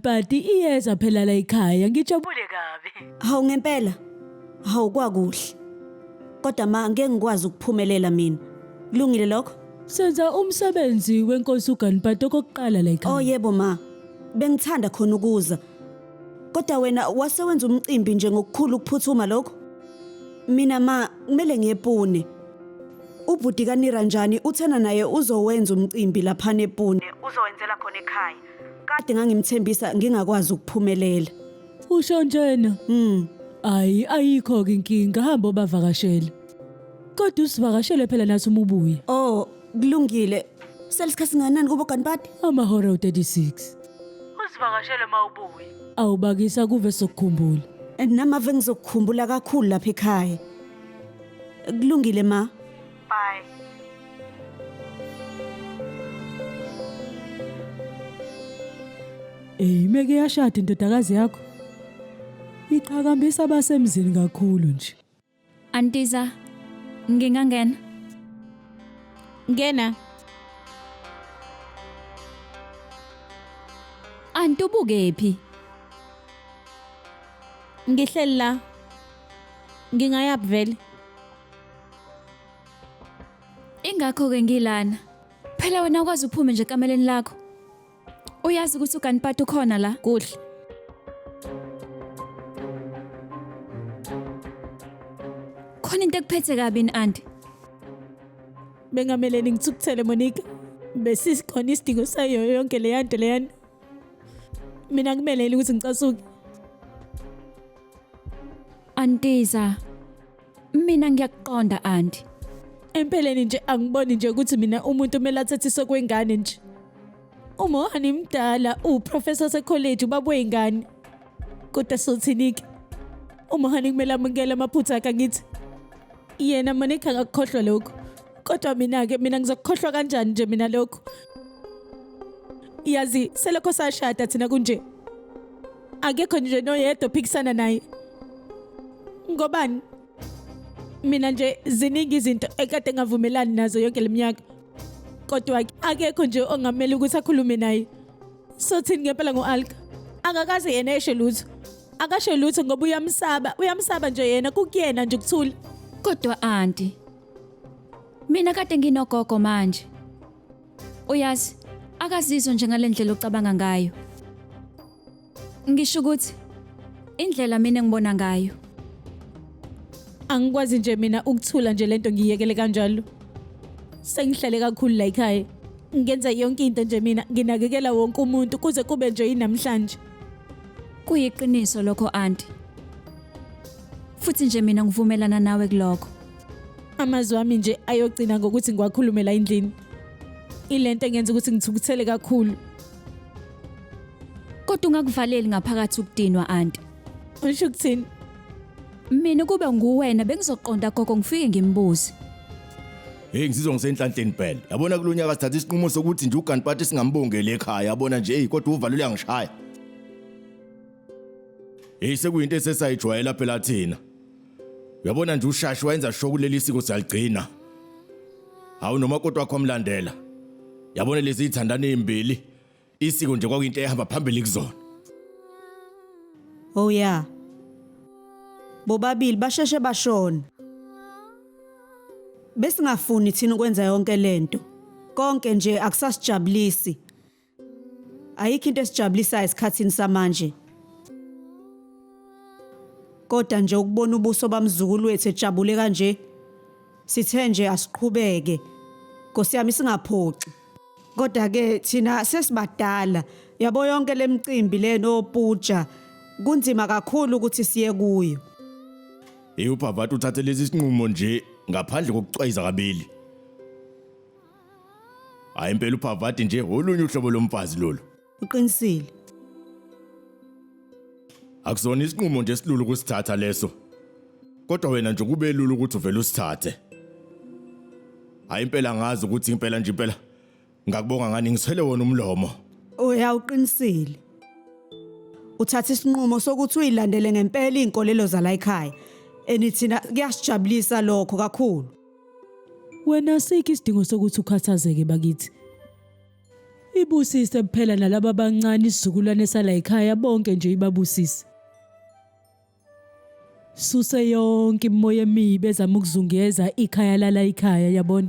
Bhadi iyeza phela la ekhaya ngijabule kabi. Hawu ngempela. Hawu kwakuhle. Kodwa ma ngeke ngikwazi ukuphumelela mina. Kulungile lokho? Senza umsebenzi wenkosi uGanpati okokuqala la Oh ekhaya. yebo ma. Bengithanda khona ukuza. Kodwa wena wase wenza umcimbi nje ngokukhulu ukuphuthuma lokho? Mina ma kumele ngiyepune. Ubhuti kaNira njani uthena naye uzowenza umcimbi lapha nePune. Uzowenzela khona ekhaya. kade ngangimthembisa ngingakwazi ukuphumelela usho njena mm ayi ayikho ke inkinga hamba obavakashele kodwa usivakashele phela nathi uma ubuye oh kulungile selisikhathi singanani kubo ganibadi amahora u36 usivakashele uma ubuye awubakisa kuve sokukhumbula namave ngizokukhumbula kakhulu lapha ekhaya kulungile ma Bye. Ey imeke yashada indodakazi yakho. Iqhakambisa abasemzini kakhulu nje. Antiza, ngingangena. Ngena. Anti ubukephi? Ngihleli la. Ngingayaphi vele? Ingakho-ke ngilana. Phela wena ukwazi uphume nje ekameleni lakho. Uyazi ukuthi uganipati ukhona la? Kuhle. Khona into ekuphethe kabi ni anti. Bengamele ningithukuthele Monica. Besisikhona isidingo sayo yonke le yanto leyana. Mina kumelele ukuthi ngicasuke. Antiza. Mina ngiyakuqonda anti. Empeleni nje angiboni nje ukuthi mina umuntu kumele athethiswe kwengane nje. Umohani mdala uprofessor secollege ubaba weyingane. Kodwa sothinike. Umohani kumele amukele amaphutha akhe ngithi. Yena manikha ngakukhohlwa lokho. Kodwa mina ke mina ngizokukhohlwa kanjani nje mina lokho. Yazi selokho sashada thina kunje. akekho nje noyedwa ophikisana naye ngobani mina nje ziningi izinto ekade ngavumelani nazo yonke leminyaka kodwa akekho nje ongamele ukuthi akhulume naye sothini ngempela ngo-alka angakaze yena esho lutho akasho lutho ngoba uyamsaba uyamsaba nje yena kukuyena nje ukuthula Kodwa anti. Mina kade nginogogo manje. Uyazi, akazizwa njengalendlela ocabanga ngayo. Ngisho ukuthi indlela mina ngibona ngayo. Angikwazi nje mina ukuthula nje lento ngiyekele kanjalo. Sengihlale kakhulu la ekhaya. Ngenza yonke into nje mina, nginakekela wonke umuntu kuze kube nje inamhlanje. Kuyiqiniso lokho anti. Futhi nje mina ngivumelana nawe kuloko. Amazwi ami nje ayogcina ngokuthi ngiwakhulume la endlini. Ilento engenza ukuthi ngithukuthele kakhulu. Kodwa ungakuvaleli ngaphakathi ukudinwa anti. Usho ukuthini? Mina kube nguwena bengizoqonda gogo ngifike ngimbuze. Hey ngizizwa ngisenhlanhleni phela. Yabona kulonyaka sithatha isinqumo sokuthi nje uGanpati singambongeli ekhaya. Yabona nje hey kodwa uvalo uyangishaya. Hey sekuyinto esesayijwayela phela thina. Uyabona nje ushashi wayenza sho kuleli siko siyaligcina. Hawu nomakoti wakho amlandela. Yabona lezi izithandana ezimbili. Isiko nje kwakuyinto ehamba phambili kuzona. Oh yeah. Bobabili basheshe bashona. Besingafuni thina ukwenza yonke lento. Konke nje akusasijabulisi. Ayikho into esijabulisayo esikhathini samanje. Kodwa nje ukubona ubuso bamzukulu wethu ejabule kanje sithe nje asiqhubeke. Nkosi yami singaphoxi. Kodwa ke thina sesibadala yabo yonke lemicimbi leno puja kunzima kakhulu ukuthi siye kuyo. Hey ubhavati uthathe lesi sinqumo nje ngaphandle kokucwayiza kabili. Hayi impela uphavadi nje olunye uhlobo lomfazi lolu. Uqinisile. Akuzona isinqumo nje silulu kusithatha leso. Kodwa wena nje kube lulu ukuthi uvele usithathe. Hayi impela ngazi ukuthi impela nje impela. Ngakubonga ngani ngiswele wona umlomo. Uyawuqinisile. Uthatha isinqumo sokuthi uyilandele ngempela izinkolelo zala ekhaya. Enithina kuyasijabulisa lokho kakhulu. Wena asikho isidingo sokuthi ukhathazeke bakithi. Ibusise kuphela nalaba abancane isizukulwane sala ekhaya bonke nje ibabusise. Suse yonke imimoya emibi ezama ukuzungeza ikhaya lala ikhaya yabona.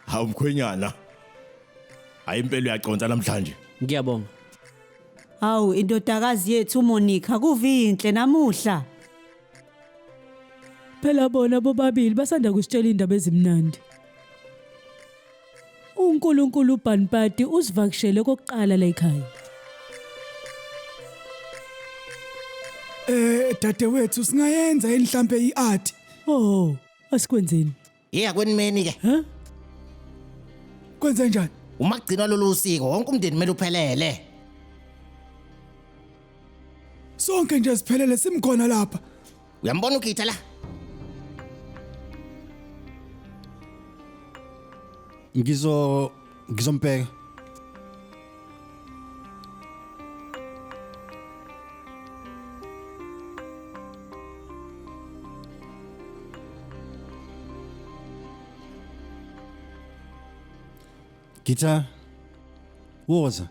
Hawu mkhwenyana. Hayi impela uyaconsa namhlanje. Ngiyabonga. Hawu indodakazi yethu uMonica kuvinhle namuhla. Phela bona bobabili basanda kusitshela indaba ezimnandi. UNkulunkulu uBanpati usivakashele kokuqala la ekhaya. Eh dadewethu singayenza yini mhlambe iart? Oh, asikwenzeni. Iya kwenimeni ke. Huh? Kwenze njani? Uma kugcinwa lolu usiko wonke umndeni kumele uphelele. Sonke nje siphelele simkhona lapha. Uyambona uGitha la? Ngizo Ngizombheka. Guitar. Woza.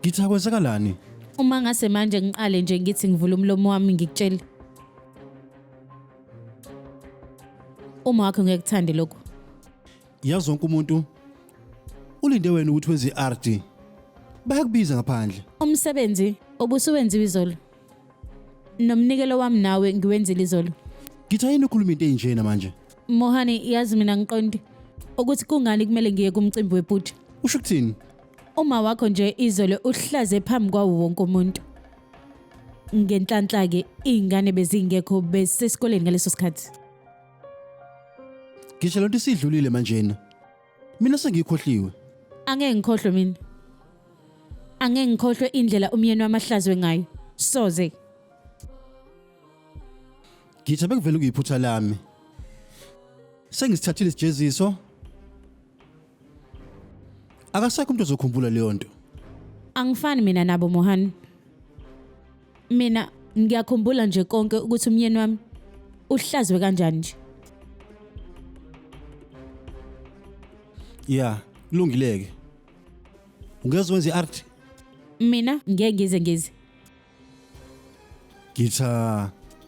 Ngitha kwenzakalani? Uma ngase manje ngiqale nje ngithi ngivula umlomo wami ngikutshele. Uma wakho ngeke kuthande lokho. Yazi wonke umuntu ulinde wena ukuthi wenze i-RD. Bayakubiza ngaphandle. Umsebenzi obusuwenziwe izolo. Nomnikelo wami nawe ngiwenzile izolo. Ngitha yini ukhuluma into enjena manje? Mohani yazi mina ngiqondi ukuthi kungani kumele ngiye kumcimbi webhuti. Usho ukuthini? Uma wakho nje izolo uhlaze phambi kwawo wonke umuntu. Ngenhlanhla ke izingane bezingekho besesikoleni ngaleso sikhathi. Ngisho lento isidlulile manjena. Mina sengikhohliwe. Angeke ngikhohlwe mina. Angeke ngikhohlwe indlela umyeni wami ahlazwe ngayo. Soze. Ngithe bekuvele kuyiphutha lami. Sengisithathile isijeziso. Akasekho umuntu ozokhumbula leyo nto. Angifani mina nabo Mohani. mina ngiyakhumbula nje konke ukuthi umyeni wami uhlazwe kanjani nje ya kulungile-ke ungeze wenze i-art mina ngeke ngize ngize ngitha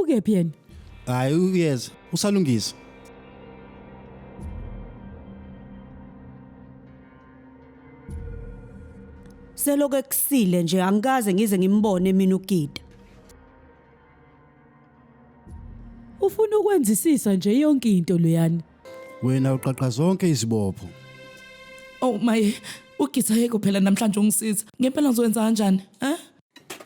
ukephi yena hayi uyeza usalungisa selokhu ekusile nje angikaze ngize ngimbone mina ugida ufuna ukwenzisisa nje yonke into loyana wena uqaqa zonke izibopho Oh my, ugitha yeke phela namhlanje ungisiza. Ngempela ngizokwenza kanjani? Eh?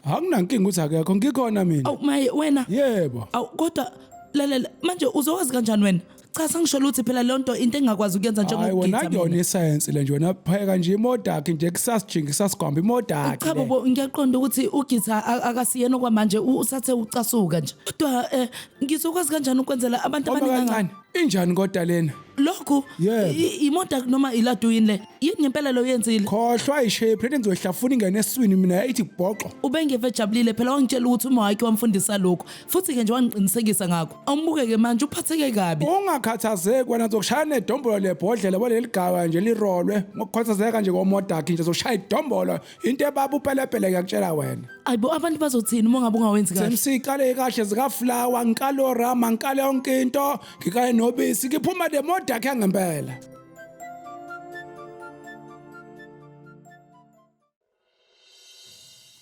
Anginankinga ukuthi akekho ngikhona mina. Awu maye wena. Yebo. Awu kodwa lalela manje uzowazi kanjani wena? Cha sangisho ukuthi phela le nto into engakwazi ukuyenza Hayi wena njengokugitha. kuyona mina. isayensi le nje wena phayeka nje imoto yakhe nje kusasijinga kusasigwamba imoto yakhe. Cha le. bobo ngiyaqonda ukuthi ugitha a- akasiyena okwamanje u- usathe ucasuka nje. Kodwa eh ngizokwazi kanjani ukwenzela abantu Hamba abaningi kancane. kangaka? Injani kodwa lena? Lokhu Yebo. i- imoda noma iladu yini le? Yini ngempela lo yenzile? Khohlwa ishape lento ngizoyihlafuna ingene eswini mina ithi bhoxo. Ubengeve ejabulile phela wangitshela ukuthi uma wakhe wamfundisa lokho. Futhi ke nje wangiqinisekisa ngakho. Awumbuke ke manje uphatheke kabi. Ungakhathazeki wena zokushaya nedombolo lebhodlela baleligaba nje lirolwe ngokukhathazeka nje komodakhe nje zoshaya idombolo into ebaba upelepele ngiyakutshela wena ayibo abantu bazothini uma ngabe ungawenzi kahle sengisiqale kahle zikaflower ngikale orama ngikale yonke into ngikale nobisi ngiphuma le moda yakhe ngempela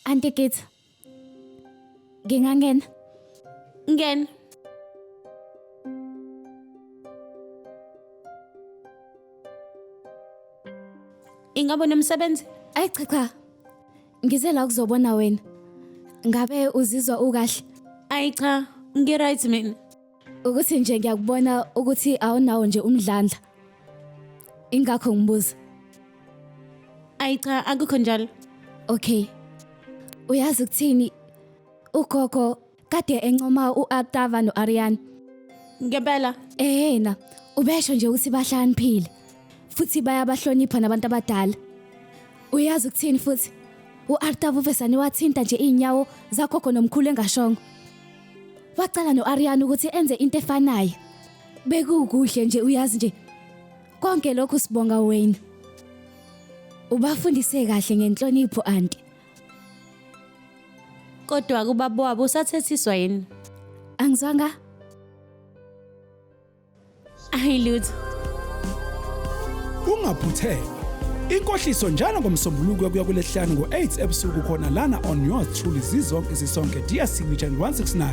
Auntie Gitsa, Ngingangena. Ngena. Ingabe unomsebenzi? Ayi cha cha. Ngize la ukuzobona wena. Ngabe uzizwa ukahle? Ayi cha, ngi-right mina. Ukuthi nje ngiyakubona ukuthi awunawo nje umdlandla. Ingakho ngibuza. Ayi cha akukho njalo. Okay. Uyazi ukuthini? Ugogo kade encoma uAtava noArian. Ngempela Ehena, ubesho nje ukuthi bahlaniphile futhi bayabahlonipha nabantu abadala. Uyazi ukuthini futhi? UArtava uvesane wathinta nje inyawo zagogo nomkhulu engashongo. Wacela no-Ariana ukuthi enze into efanayo. Bekukuhle nje uyazi nje. Konke lokhu sibonga wena. Ubafundise kahle ngenhlonipho anti. Kodwa kubaba wabo usathethiswa yini? Angizwanga ayilutho ungaphutheka inkohliso njalo ngomsombuluko kuya kulesihlanu ngo-8 ebusuku khona lana on yours truly zizonke sisonke dear signature 169